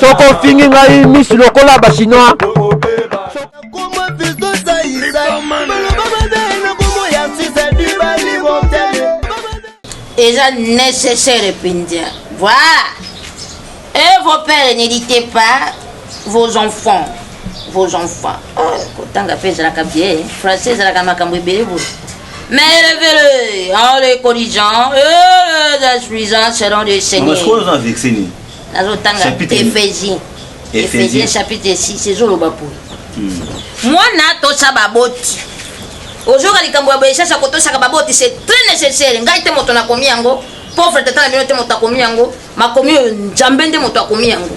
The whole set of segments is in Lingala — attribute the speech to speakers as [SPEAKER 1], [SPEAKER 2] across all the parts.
[SPEAKER 1] soki ofingi ngai misi lokola bachinois
[SPEAKER 2] eza nécessaire mpenza voilà et vos pères n'éditez pas vos enfants vos enfants oh, kotanga mpe ezalaka bien français ezalaka makambo ebele boye Mais élevez-le en le corrigeant et euh, les instruisant selon le Seigneur. nazotanga efesi efesi chapitre 6 ezoloba poi hmm. mwana tosa baboti ozoyoka likambo ya boye sasa kotosaka baboti c'est très nécessaire ngai te moto nakomi yango pauvre tata na bino te moto akomi yango makomi oyo nzambe nde moto akomi yango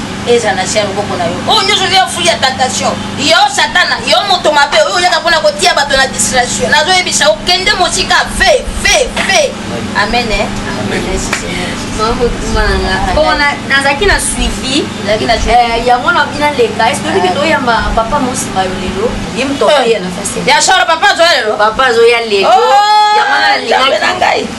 [SPEAKER 2] eza na sia loboko na yo oyo oh, nyonso yo fuli ya tentation yo satana yo moto mabe oyo oyaka mpona kotia bato na distraction nazoyebisa okende mosika fe fe fe amen eh?
[SPEAKER 3] nazalaki na suivi eh, yango na bina leka esoki ah. toyamba papa mosima yo lelo ye moto eh. ya na fasi ya solo papa azoya lelo
[SPEAKER 2] papa azoya lelo
[SPEAKER 3] oh, yango na lingaki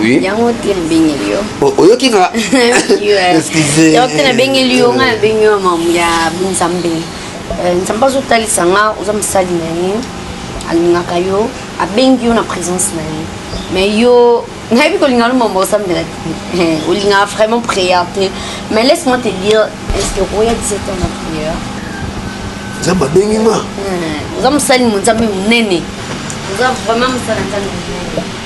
[SPEAKER 3] Oui. Yango te
[SPEAKER 4] nabengeli
[SPEAKER 3] yo. Oyoki nga.
[SPEAKER 4] Excusez.
[SPEAKER 3] Yango te nabengeli yo nga nabengi yo mamu ya Nzambe. Euh, Nzambe azotalisa nga oza mosali na ye alingaka yo abengi yo na présence na ye mais yo nayebi kolinga no mambo osambela te eh, olingaka vraiment prière te mais laisse moi te dire est ce que okoya 17 ans na prière
[SPEAKER 4] nzambe abengi nga eh, oza mosali
[SPEAKER 3] mo nzambe monene oza vraiment mosala nzambe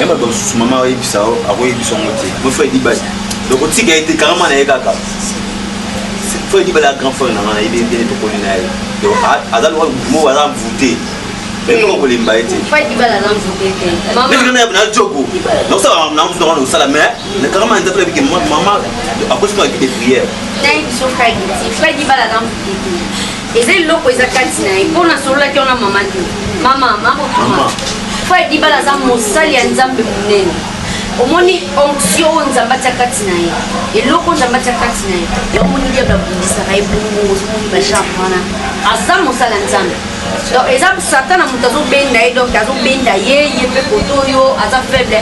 [SPEAKER 4] ya bato mosusu mama ayebisa yo akoyebisa yango te mo fredi bai donc otika ye te karama na ye kaka fredi bai ya grand frère na ngai nayebi ndene tokoli na ye donc aza lokola mo aza mvute mekoma kolemba ye
[SPEAKER 3] te na
[SPEAKER 4] jogo nakosala na mosusu nakona kosala mais na karama nzambe nabike mama akosi mwa ekipe prière
[SPEAKER 3] eza eloko eza kati na ye mpo nasololaki wana mama te mama makotuma fo edibala aza mosali ya nzambe monene omoni onction oyo nzambe atya kati na ye eloko nzambe atya kati na ye omoni diable abundisaka ye bongo ozomoni bashar wana aza mosala nzambe donc eza satana moto azobenda ye donc azobenda ye ye mpe koto oyo aza faible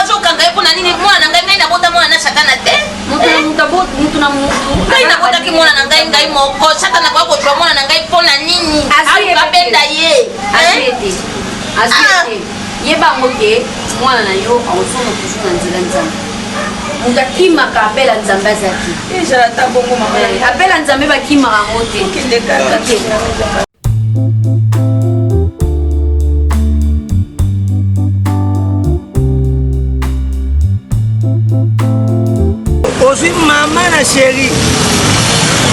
[SPEAKER 2] azokanga ye mpo na nini mwana na ngai ngai nabota mwana na satana te moto na moto aboti moto
[SPEAKER 3] na moto ngai nabotaki mwana na
[SPEAKER 2] ngai ngai moko sata nakoya kozwa mwana na ngai mpo na nini abenda ye
[SPEAKER 3] yebango te mwana na yo akozonga toujours na nzela nzambe moto akimaka abela nzambe azaki abela nzambe bakimaka yango te
[SPEAKER 5] ozwi mama na sheri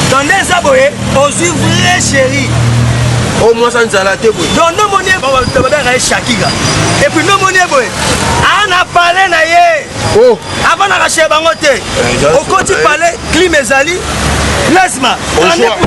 [SPEAKER 5] donde eza boye ozwi vrai sheri o oh,
[SPEAKER 1] mwasa nzala te boye don nomoni
[SPEAKER 5] babengaka ye shakira epuis nomoni ye boye ana pale na ye oh. avanaka sheri bango te eh, okoti pale eh. klime ezali plasma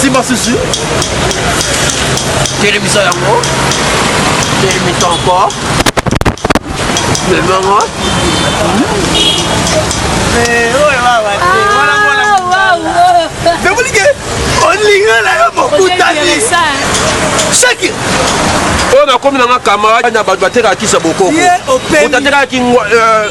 [SPEAKER 1] simba susu telemisa yango telemisa encore memango
[SPEAKER 5] nakolike olinga na yo mokutani shaki
[SPEAKER 1] oyo nakomi nanga camarade na bato batekaka kisa bokoko otatekaki euh,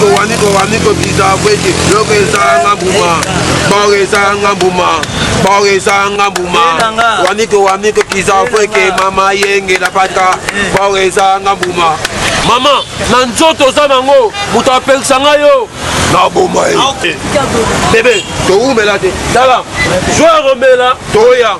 [SPEAKER 6] towani towani tobisa bweki loko ezanga mbuma
[SPEAKER 1] baoyo ezanga mbuma baoyo ezanga mbuma wani towani tokisa bweke mama yenge na pata baoyo ezanga mbuma mama na nzoto oza nango moto apekisa ngai yo naboma ye bebe towumela te tala zwa romela toya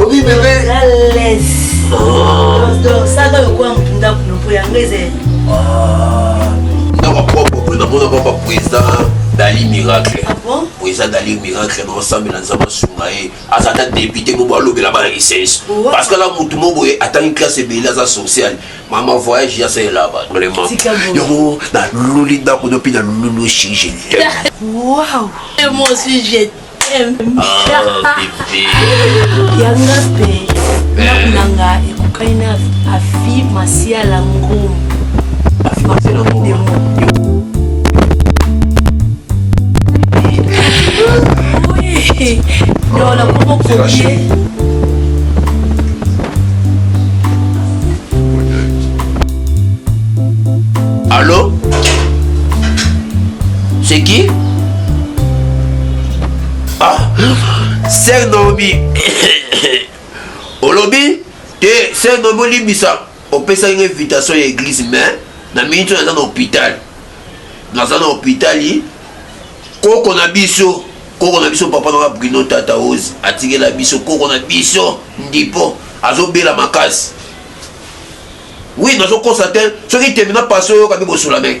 [SPEAKER 4] Obi bebe. Ales.
[SPEAKER 6] Donc ça doit quoi
[SPEAKER 4] mpunda kuno po yango ezali. Ndaba poko po na mona papa puiza dali miracle. Ah bon? Puiza
[SPEAKER 6] dali miracle
[SPEAKER 4] na ensemble na nzamba sunga ye. Aza ta député mo balobela bana licence. Parce que la mutu mo boye atani classe ebele aza social. Mama voyage ya c'est là-bas. Vraiment. Yo na luli ndako no pina lulu chez Wow. Et
[SPEAKER 6] moi aussi j'ai
[SPEAKER 4] yanga
[SPEAKER 6] mpe ndako na nga ekokani na afi masiala ngomu afi
[SPEAKER 4] masiala ngomu
[SPEAKER 6] Lola como comer. Allô
[SPEAKER 4] C'est qui Ah, sœur Naomi, olobi te sœur Naomi olimbisa, opesaki nga invitation ya église mais na minute naza na hôpital, naza na hôpital koko na biso koko na biso papa nanga Bruno Tata Rose atikela biso koko na biso ndipo azobela makasi oui nazokosa te soki tembe na paso oyoka mpe bosola meke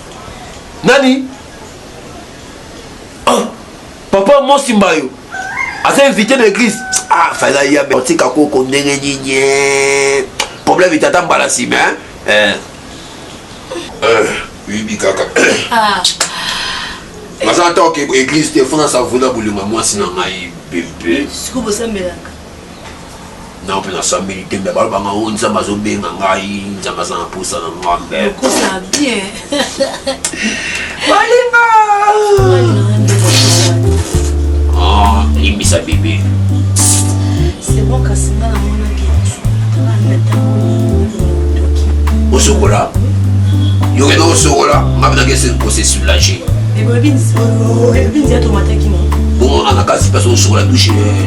[SPEAKER 4] nani ah, papa mosi mbayo aza invité na église ah fala ya me otika koko ndenge nini eh. problème itata mbala nsima eh. eh, oyebi kaka ah. naza ata oke église te fona savuna bolinga mwasi na ngai bebe na mpe nasambeli te me baloba nga o oh, nzambe azobenga ngai nzambe aza na mposa na nga mbekosa
[SPEAKER 6] bien balinga
[SPEAKER 4] ah, limbisa bebe
[SPEAKER 6] osokola
[SPEAKER 4] yo kende osokola nga binaki ese kose soulage
[SPEAKER 6] bon anakasi
[SPEAKER 4] mpasi osokola dushe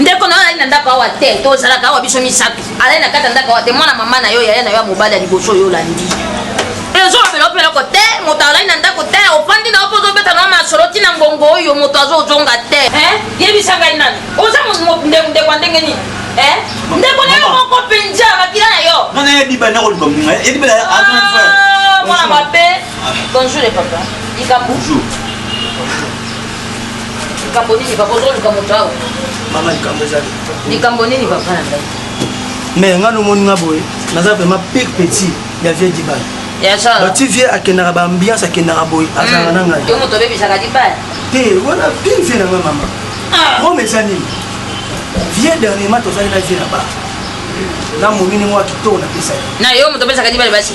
[SPEAKER 2] ndeko na yo azali na ndako awa te tozalaka awa biso misato alali na kati ya ndako te mwana mama na yo yaya na yo ya mobali ya liboso oyo olandi ezolobela ope eloko te moto alali na ndako te ofandi na yo mpo ozobeta na masolo ntina ngongo oyo moto azozonga te yebisa ngai nani oza ndeko ndenge nini ndeko na yo moko mpenza makila na yo mwana ya biba na koluka
[SPEAKER 4] mbuma ya biba mwana mabe
[SPEAKER 2] bonjour papa likambo likambo nini papa ozoluka moto awa mama likambo
[SPEAKER 5] eza likambo nini papa
[SPEAKER 2] na ngai mais nga
[SPEAKER 5] nomoni nga boye naza vraiment pire petit ya vieux dibal bati vieux akendaka baambiance akendaka boye azalaka na ngai yo moto obebisaka
[SPEAKER 2] dibal te wana
[SPEAKER 5] pire vieux na ngai mama ah. rome eza nini vieux dernièrement tozali na vieux na ba na momini mwa kitoko napesaki na yo moto opesaka
[SPEAKER 2] dibal basi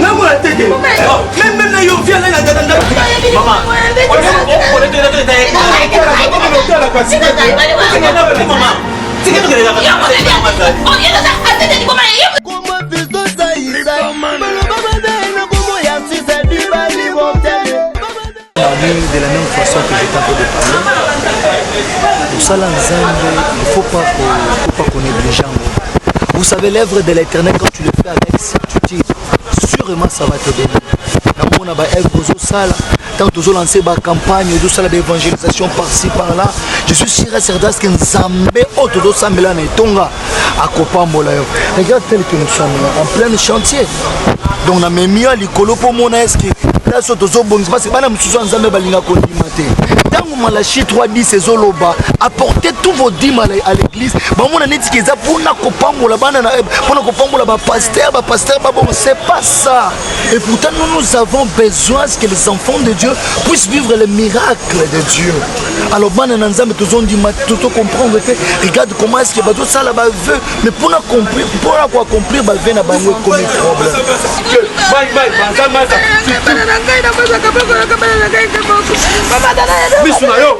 [SPEAKER 5] nakola tete meme na yo via ngai na
[SPEAKER 4] tata
[SPEAKER 5] ndako de la même façon que j'étais en train de parler kosala nzambe il faut pas faut pas qu'on néglige yango vous savez l'œuvre de l'éternel quand tu le fais avec certitude sûrement ça va te donner namona baœuvre ozosala ntango tozolanse bacampagne ozosala baévangélisation parci par là je suis sûr et certain ce que nzambe oyo tozosambela na etonga akopambola yo regarde tel que nous sommes en plein chantier donc na memi yo likolo mpo omona eske place oyo tozobongisa parce bana mosusu ya nzambe balinga kondima te ntango malachi 310 ezoloba apporte tout vos dime à l'église bamona neti ke eza mpona kopambola bana na mpona eh, kopambola bapaster bapaster babongo c'est pas ça Et pourtant, nous, nous avons besoin que les enfants de Dieu puissent vivre les miracles de Dieu. Alors, bana na nzambe tozon di matoto comprendre que regarde comment est-ce que bato sala ba vœux mais pour accomplir pour accomplir ba vœux na bango comme problème. Que bye bye banza maza. Bana na ngai na maza kabako na kabana na ngai kabako. Baba
[SPEAKER 1] dana. Bisu na yo.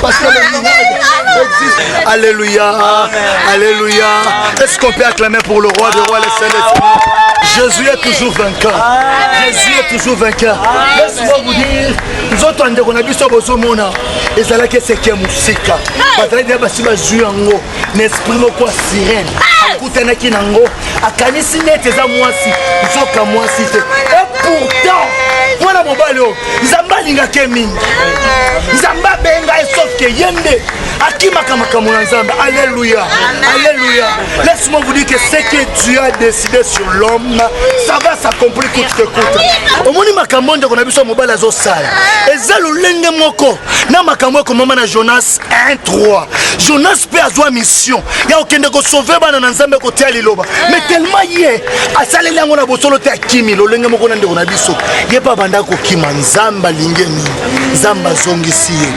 [SPEAKER 5] Parce que le miracle existe. Alléluia. Alléluia. Est-ce qu'on peut acclamer pour le roi des rois, le Saint des Saints Jésus est toujours vainqueur. Jésus est toujours vainqueur. Laisse-moi vous dire, nzoto ya ndeko na biso bozomona ezalaki eseki ya mosika bazalaki na basi bazwi yango na esprit moko ya sirene akutanaki na yango akanisi neti eza mwasi nzoka mwasi te et pourtant mwana mobali oyo nzambe alingaka ye mingi nzambe abenga ye sauf ke ye nde akimaka makambo na nzambe alleluya alleluya laisse-moi vous dire que ce que dieu a décidé sur l'homme ça va s'accomplir coûte que coûte omoni makambo ndeko na biso ya mobali azosala eza lolenge moko na makambo ekomama na jonas 1 3 jonas mpe azwa mission ya kokende kosauve bana na nzambe kotia liloba me eh. telema ye asaleli yango na bosolo te akimi lolenge moko na ndeko na biso ye mpe abanda kokima nzambe alingi nini nzambe azongisi ye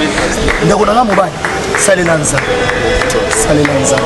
[SPEAKER 5] ndeko na nga mobali salela nzambe salela nzambe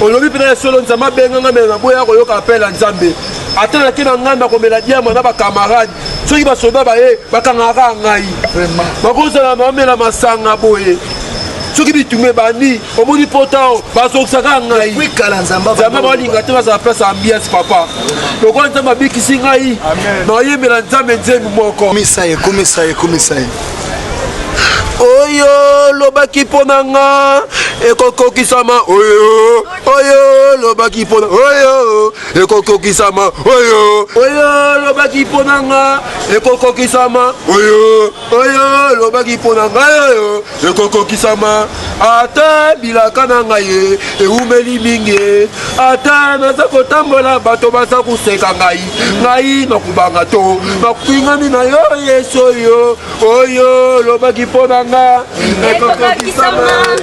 [SPEAKER 1] olobi mpena ya solo nzambe abenga ngai mena naboya koyoka apele ya nzambe ata nake na ngai nakomela diama na bakamarade soki basoda baye bakangaka ngai bakozala bamela masanga boye soki bitumba ebandi omoni potao bazokisaka ngai nzambe
[SPEAKER 5] balinga te bazala
[SPEAKER 1] place ya ambiance papa lokola nzambe abikisi ngai nayembela nzambe nzembi moko oyo lobaki mpo na nga ekokokisama oyo oyo lobaki mpo na oyo ekokokisama oyo oyo lobaki mpo na nga ekokokisama oyo oyo lobaki mpo na ngai oyo ekokokisama Ata bilaka na ngai ye ewumeli mingi ye, ata naza kotambola bato baza koseka ngai, ngai nakobanga to makwingani na yo Yesu oyo oyo olobaki mpo na nga ekokokisama.